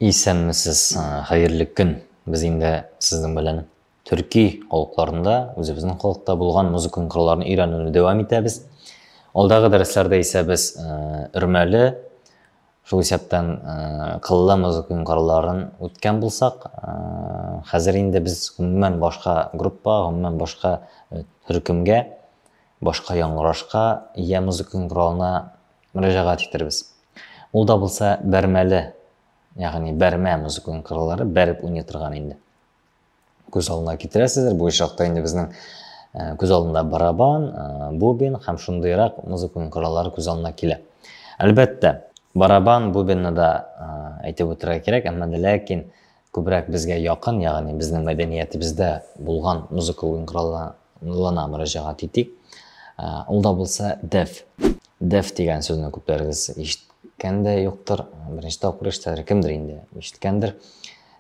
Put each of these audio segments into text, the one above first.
Исәнмесез, хәерле көн. Без инде сезнең белән төрки халыкларында үзебезнең халыкта булган музыка кырларын өйрәнүне дәвам итәбез. Алдагы дәресләрдә исә без өрмәле, шул исәптән кыллы музыка кырларын үткән булсак, хәзер инде без гомумән башка группа, гомумән башка төркемгә, башка яңгырашка, я музыка кыралына мөрәҗәгать итәрбез. Ул да булса бәрмәле, ягъни бәрмә музыкаль кырылары бәреп уйный торган инде. Күз алдына китерәсездер, бу очракта инде безнең э, күз алдында барабан, э, бубен һәм шундыйрак музыкаль кырылары күз алдына килә. Әлбәттә, барабан, бубенны да э, әйтеп үтәргә кирәк, әмма ләкин күбрәк безгә якын, ягъни безнең мәдәниятебездә булган музыка уен коралларына мөрәҗәгать итик. Ә, ул да булса деф. Деф дигән сүзне күпләрегез ишеткән дә юктыр. Беренче тапкыр ишетәдер, кемдер инде ишеткәндер.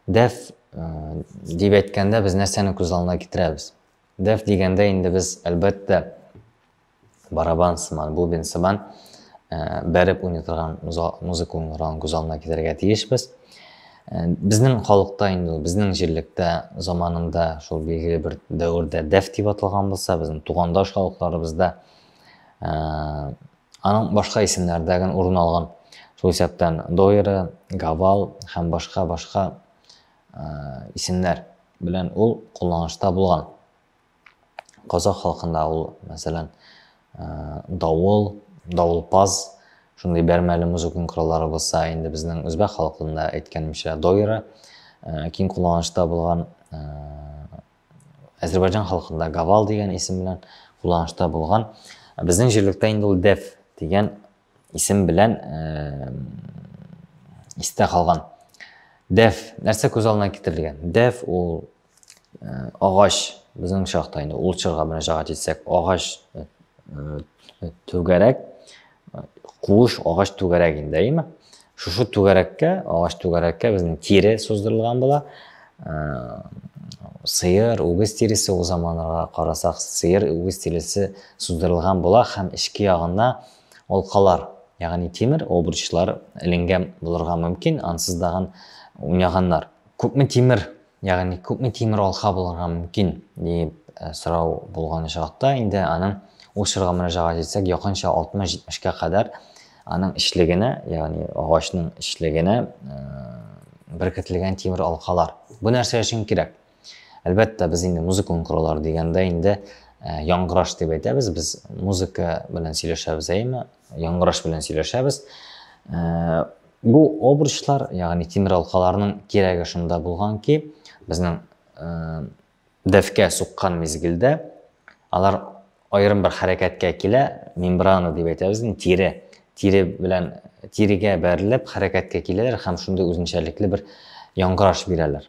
Деф э, дип әйткәндә без нәрсәне күз алдына китерәбез? Деф дигәндә инде без, әлбәттә, барабан сыман, бубен сыман бәреп уйный торган музыка уйный торган күз алдына китерергә тиешбез. Безнең халыкта инде, безнең җирлектә заманында шул билгеле бер дәвердә дәф дип аталган булса, безнең тугандаш халыкларыбызда аның башка исемнәрдәген урын алган шул исәптән дойры гавал һәм башка башка исемнәр белән ул кулланышта булган Казах халкында ул, мәсәлән, давыл, давылпаз, шундый бәрмәле музыкон кораллары булса, инде безнең үзбәк халкында әйткәнемчә, дойра, киң кулланышта булган Азербайджан халкында гавал дигән исем белән кулланышта булган. Безнең җирлектә инде ул дәф дигән исем белән э, истә калган. Дәф нәрсә күз алдына китерелгән? Дәф ул Э, агач безнең чакта инде ул чорга мөрәҗәгать итсәк агач э, э, түгәрәк куыш агач түгәрәк инде әйеме шушы түгәрәккә агач түгәрәккә безнең тире суздырылган була сыер үгез тиресе ул заманнарга карасак сыер үгез тиресе суздырылган була һәм эчке ягына алкалар ягъни тимер обручлар эленгән булырга мөмкин ансыз дагын уйнаганнар күпме тимер Ягъни күпме тимер алха булырга мөмкин? дип сорау булган очракта, инде аның ул чорга мөрәҗәгать итсәк, якынча 60-70-кә кадәр аның эчлегенә, ягъни агачның эчлегенә беркетелгән тимер алкалар. Бу нәрсә өчен кирәк? Әлбәттә, без инде музыка онкыралар дигәндә инде яңгыраш дип әйтәбез. Без музыка белән сөйләшәбез, әйеме? Яңгыраш белән сөйләшәбез. Бу обручлар, ягъни тимер алкаларның кирәге шунда булган ки, безнең дәфкә суккан мизгелдә алар аерым бер хәрәкәткә килә, мембрана дип әйтәбез, тире, тире белән тирегә бәрелеп хәрәкәткә киләләр һәм шундый үзенчәлекле бер яңгыраш бирәләр.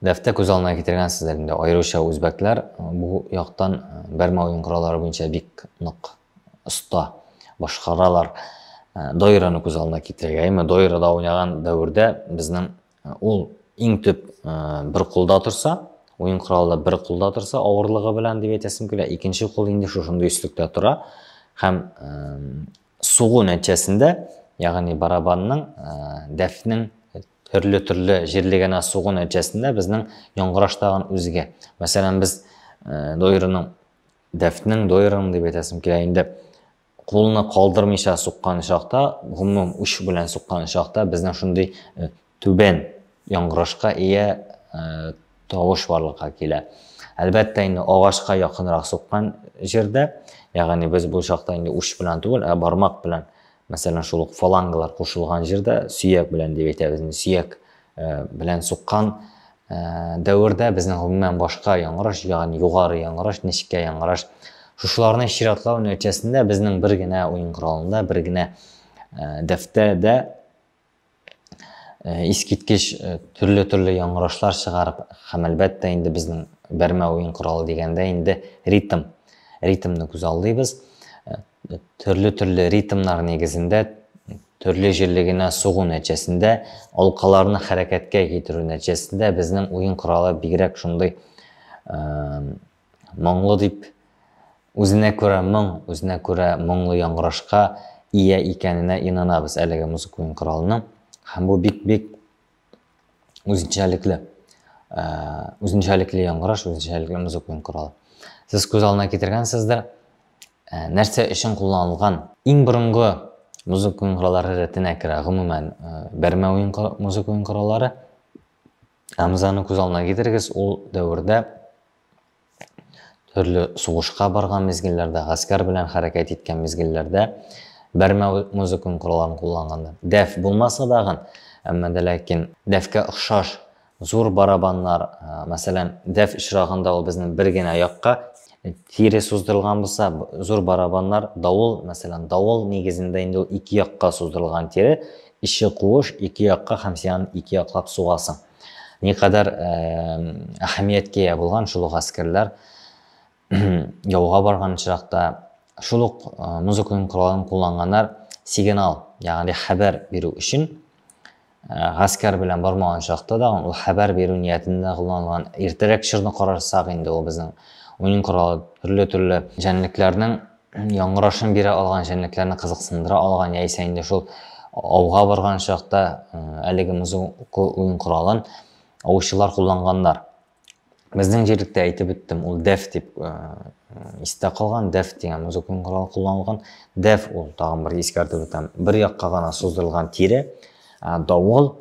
Дәфтә күз алдына китергәнсездер инде, аеруча үзбәкләр бу яктан бәрмә уен кораллары буенча бик нык оста башкаралар. Дойраны күз алдына китерергә. Әмма дойрада уйнаган дәвердә безнең ул иң төп бер кулда торса, уен коралы да бер кулда торса, авырлыгы белән дип әйтәсем килә. Икенче кул инде шушындый өслектә тора һәм сугу нәтиҗәсендә, ягъни барабанның, дәфнең Төрле-төрле җирле генә сугу нәтиҗәсендә безнең яңгыраш тагын үзгә. Мәсәлән, без э, доерының дәфтнең доерының дип әйтәсем килә инде кулны калдырмыйча суккан чакта, гомум уч белән суккан чакта безнең шундый э, түбән яңгырашка ия э, тавыш барлыкка килә. Әлбәттә инде агачка якынрак суккан җирдә, ягъни без бу чакта инде уч белән түгел, ә бармак белән Мәсәлән, шул ук фалангалар кушылган җирдә сөяк белән дип әйтәбез. Сөяк э, белән суккан э, дәвердә безнең гомумән башка яңгыраш, ягъни югары яңгыраш, нечкә яңгыраш. Шушыларны чиратлау нәтиҗәсендә безнең бер генә уен коралында, бер генә э, дәфтәдә Э, искиткеч э, төрле-төрле яңгырашлар чыгарып һәм әлбәттә инде безнең бәрмә уен коралы дигәндә инде ритм ритмны күз алдыйбыз э, төрле-төрле ритмнар нигезендә төрле җирле генә сугу нәтиҗәсендә алкаларны хәрәкәткә китерү нәтиҗәсендә безнең уен коралы бигрәк шундый Моңлы дип үзенә күрә моң, үзенә күрә моңлы яңгырашка ия икәненә инанабыз әлеге музыка уен коралының. Һәм бу бик-бик үзенчәлекле. Э, үзенчәлекле яңгыраш, үзенчәлекле музыка уен коралы. Сез күз алдына китергәнсездер, э, нәрсә өчен кулланылган? Иң борынгы музыка уен кораллары рәтенә керә, гомумән, э, бәрмә уен музыка уен кораллары. Әмзаны күз алдына китерегез, ул дәвердә төрле сугышка барган мизгелләрдә, гаскәр белән хәрәкәт иткән мизгелләрдә бәрмә музыка коралларын кулланганнар. Дәф булмаса дагын, әмма дә ләкин дәфкә охшаш зур барабаннар, мәсәлән, дәф очрагында ул безнең бер генә якка, Тире суздырылган булса, зур барабаннар, давыл, мәсәлән, давыл нигезендә инде ул ике якка суздырылган тире, эче куыш, ике якка һәм син аны ике яклап сугасың. Никадәр әһәмияткә ия булган шул ук әскәрләр яуга барган очракта шул ук музыканың коралын кулланганнар сигнал, ягъни хәбәр бирү өчен Гаскәр белән бармаган чакта да ул хәбәр бирү ниятендә кулланылган. Иртәрәк чорны карасак инде ул безнең уен коралы, төрле-төрле җәнлекләрнең яңгырашын бирә алган, җәнлекләрне кызыксындыра алган, яисә инде шул ауга барган чакта әлеге музыка уен коралын аучылар кулланганнар. Безнең җирлектә әйтеп үттем, ул дәф дип э, истә калган, дәф дигән музыкаль корал кулланылган. Дәф ул тагын бер искәртеп үтәм, бер якка гына суздырылган тире, ә давыл,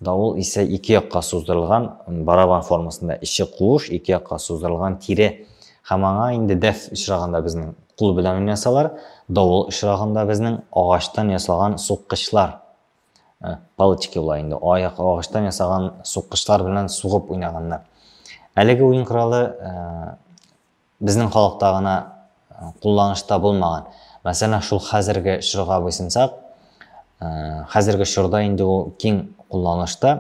давыл исә ике якка суздырылган барабан формасында, эче куыш, ике якка суздырылган тире. Һәм аңа инде дәф очрагында безнең кул белән уйнасалар, давыл очрагында безнең агачтан ясалган суккычлар Ә, палочки була инде, аяк агачтан ясаган суккычлар белән сугып уйнаганнар. Әлеге уен коралы ә, безнең халыкта гына ә, кулланышта булмаган. Мәсәлән, шул хәзерге чорга буйсынсак, ә, хәзерге чорда инде ул киң кулланышта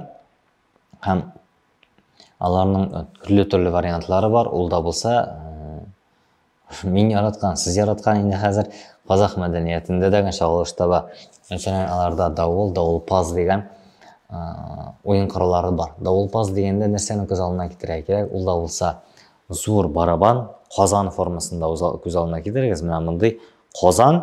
һәм аларның төрле-төрле вариантлары бар. Ул да булса, Мин яраткан, сез яраткан инде хәзер казах мәдәниятендә дә генә чагылыш таба. Мәсәлән, аларда давыл, давылпаз дигән уен кораллары бар. Давылпаз дигәндә нәрсәне күз алдына китерә кирәк? Ул да булса зур барабан, казан формасында күз алдына китерегез. Менә мондый казан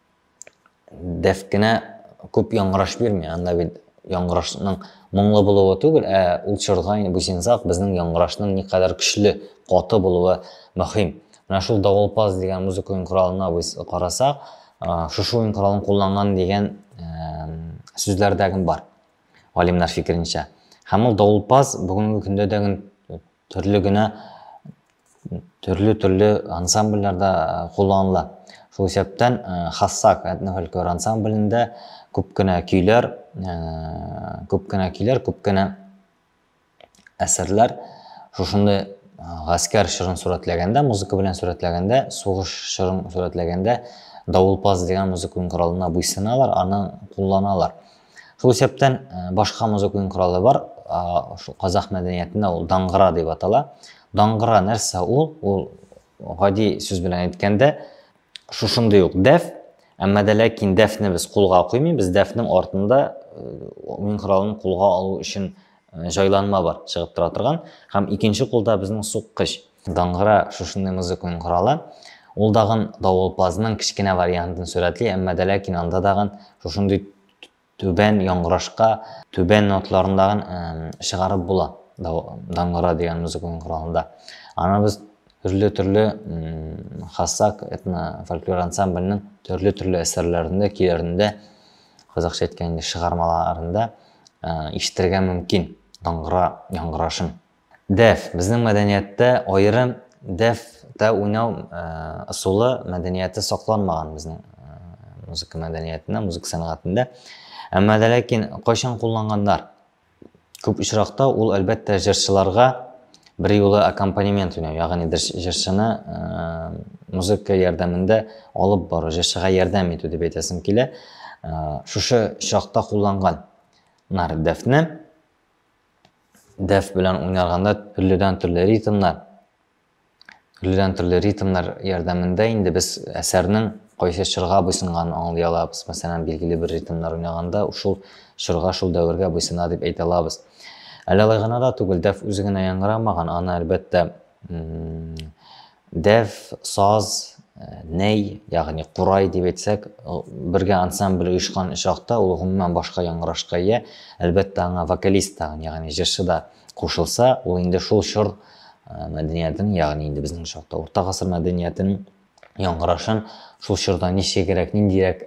дәфкенә күп яңгыраш бирми, анда бит яңгырашның моңлы булуы түгел, ә ул чорда инде бу синзак безнең яңгырашның никадәр көчле, каты булуы мөһим. Менә шул давылпаз дигән музыка уен коралына без карасак, шушы уен коралын кулланган дигән сүзләрдә гем бар. Галимнәр фикеренчә. Һәм ул давылпаз бүгенге көндә дә гел төрле генә төрле-төрле ансамбльләрдә кулланыла. Шул исәптән Хассак этнофольклор ансамблендә күп кенә көйләр, күп кенә көйләр, күп кенә әсәрләр шушындый гаскәр чырын сурәтләгәндә, музыка белән сурәтләгәндә, сугыш чырын сурәтләгәндә давылпаз дигән музыка коралына буйсыналар, аны кулланалар. Шул исәптән башка музыка уен коралы бар, шул казах мәдәниятендә ул даңгыра дип атала. Даңгыра нәрсә ул? Ул гади сүз белән әйткәндә шушындый ук дәф, әмма дә ләкин дәфне без кулга куймыйбыз, дәфнең артында уен коралын кулга алу өчен җайланма бар чыгып тора торган һәм икенче кулда безнең суккыч. Даңгыра шушындый музыканың коралы. Ул дагын давылпазның кечкенә вариантын сурәтли, әмма дә ләкин анда дагын шушындый түбән яңгырашка, түбән ноталарын дагын чыгарып була даңгыра дигән музыканың коралында. Аны без төрле-төрле Хасак этно-фольклор ансамбленең төрле-төрле әсәрләрендә, көйләрендә Казакча әйткәндә чыгармаларында ишетергә мөмкин даңгыра яңгырашын. Дәф, безнең мәдәнияттә аерым дәф та уйнау ысулы мәдәнияте сакланмаган безнең музыка мәдәниятендә, музыка сәнгатендә. Әмма дә ләкин кайчан кулланганнар? Күп очракта ул, әлбәттә, җырчыларга берьюлы аккомпанемент уйнау, ягъни җырчыны музыка ярдәмендә алып бару, җырчыга ярдәм итү дип әйтәсем килә. Шушы чакта кулланган нар дәфне. Дәф белән уйнарганда төрледән-төрле ритмнар Төрледән төрле ритмнар ярдәмендә инде без әсәрнең кайсы чорга буйсынганын аңлый алабыз. Мәсәлән, билгеле бер ритмнар уйнаганда, шул чорга, шул дәвергә буйсына дип әйтә алабыз. Әле алай гына да түгел, дәф үзе генә яңгырамаган, аны, әлбәттә, дәф, саз, нәй, ягъни курай дип әйтсәк, бергә ансамбль оешкан чакта ул гомумән башка яңгырашка ия, әлбәттә, аңа вокалист тагын, ягъни җырчы да кушылса, ул инде шул чор мәдәниятен, ягъни инде безнең чакта урта гасыр мәдәниятен яңгырашын шул чорда ничегрәк, ниндирәк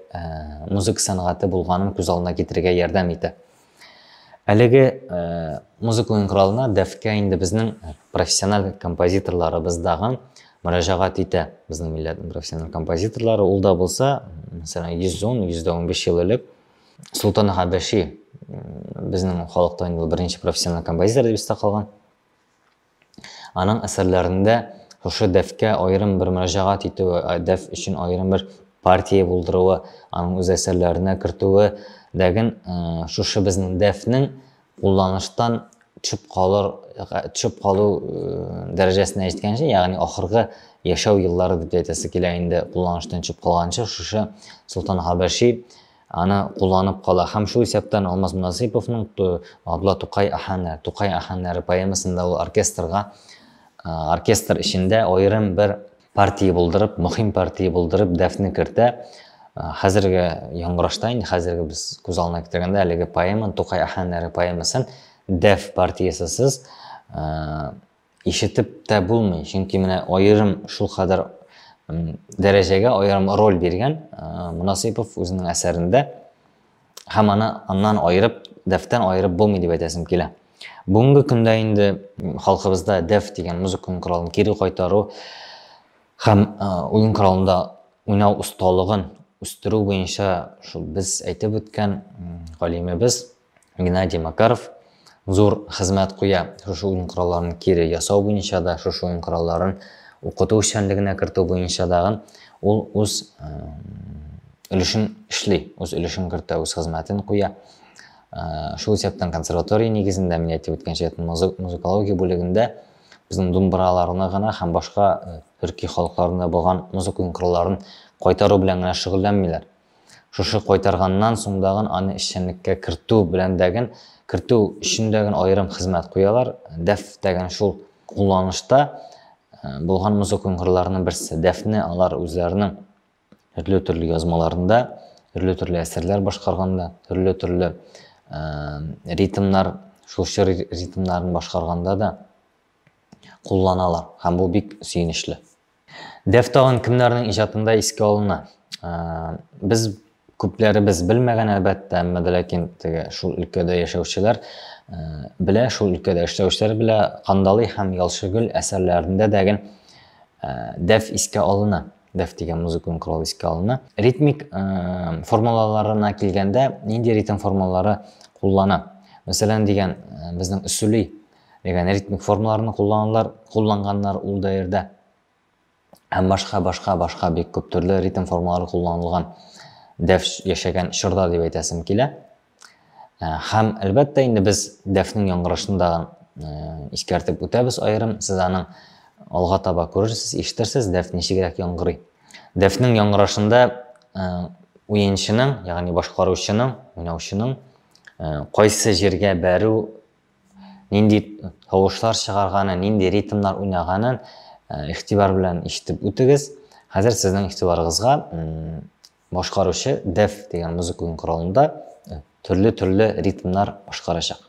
музыка сәнгате булганын күз алдына китерергә ярдәм итә. Әлеге музыка уен коралына дәфкә инде безнең профессиональ композиторларыбыз дагы мөрәҗәгать итә. Безнең милләтнең профессиональ композиторлары ул да булса, мәсәлән, 110-115 ел элек Султан Хәбәши безнең халыкта инде беренче профессиональ композитор дип истә калган. Аның әсәрләрендә шушы дәфкә аерым бер мөрәҗәгать итүе, дәф өчен аерым бер партия булдыруы, аның үз әсәрләренә кертүе дәген шушы безнең дәфнең кулланыштан төшеп калыр, төшеп калу дәрәҗәсенә җиткәнче, ягъни ахыргы яшәү еллары дип әйтәсе килә инде, кулланыштан төшеп калганчы, шушы Солтан Хабәши аны кулланып кала. Һәм шул исәптән Алмаз Насыйповның Абла Тукай аханнары, Тукай аханнары поэмасында ул оркестрга, оркестр эчендә аерым бер Партия булдырып, мөһим партия булдырып, дәфне кертә. Хәзерге яңгырашта инде хәзерге без күз алдына китергәндә әлеге поэманы, Тукай әһәңнәре поэмасын дәф партиясесез ишетеп тә булмый. Чөнки менә аерым шул кадәр дәрәҗәгә аерым роль биргән Мунасыйпов үзенең әсәрендә һәм аны аннан аерып, дәфтән аерып булмый дип әйтәсем килә. Бүгенге көндә инде халкыбызда дәф дигән музыка коралын кире кайтару һәм уен коралында уйнау осталыгын үстерү буенча шул без әйтеп үткән галимебез Геннадий Макаров зур хезмәт куя. Шушы уен коралларын кире ясау буенча да, шушы уен коралларын укыту эшчәнлегенә кертү буенча дагы ул үз өлешен эшли, үз өлешен кертә, үз хезмәтен куя. Шул исәптән консерватория нигезендә, мин әйтеп үткәнчә, музыкология бүлегендә безнең думбраларны гына һәм башка төрки халыкларында булган музыка уен коралларын кайтару белән генә шөгыльләнмиләр. Шушы кайтарганнан суңдагын аны эшчәнлеккә кертү беләндәген кертү өчендәген аерым хезмәт куялар. Дәф дәген шул кулланышта булган музыка уңгырларының берсе. Дәфне алар үзләренең төрле-төрле язмаларында, төрле-төрле әсәрләр башкарганда, төрле-төрле ритмнар, шул чор ритмнарын башкарганда да кулланалар. Һәм бу бик сөенечле. Деф тагын кемнәрнең иҗатында искә алына? Без күпләребез белмәгән, әлбәттә, әмма дә ләкин теге шул өлкәдә яшәүчеләр белә, шул өлкәдә эшләүчеләр белә, Кандалый һәм Ялчыгөл әсәрләрендә дә гел дәф искә алына, дәф дигән музыкаль корал искә алына. Ритмик формулаларына килгәндә, нинди ритм формулалары куллана? Мәсәлән, дигән безнең өсүли Дигән ритмик формаларны кулланалар, кулланганнар ул даирдә. Һәм башка, башка, башка бик күп төрле ритм формалары кулланылган дәф яшәгән чорда дип әйтәсем килә. Э, һәм әлбәттә инде без дәфнең яңгырашын да э, искәртеп үтәбез аерым. Сез аның алга таба күрерсез, ишетерсез, дәф ничегрәк яңгырый. Дәфнең яңгырашында э, уенчының, ягъни башкаручының, уйнаучының кайсы җиргә бәрү Нинди тавышлар чыгарганын, нинди ритмнар уйнаганын игътибар белән ишетеп үтегез. Хәзер сезнең игътибарыгызга башкаручы Def дигән музыка уен коралында төрле-төрле ритмнар башкарачак.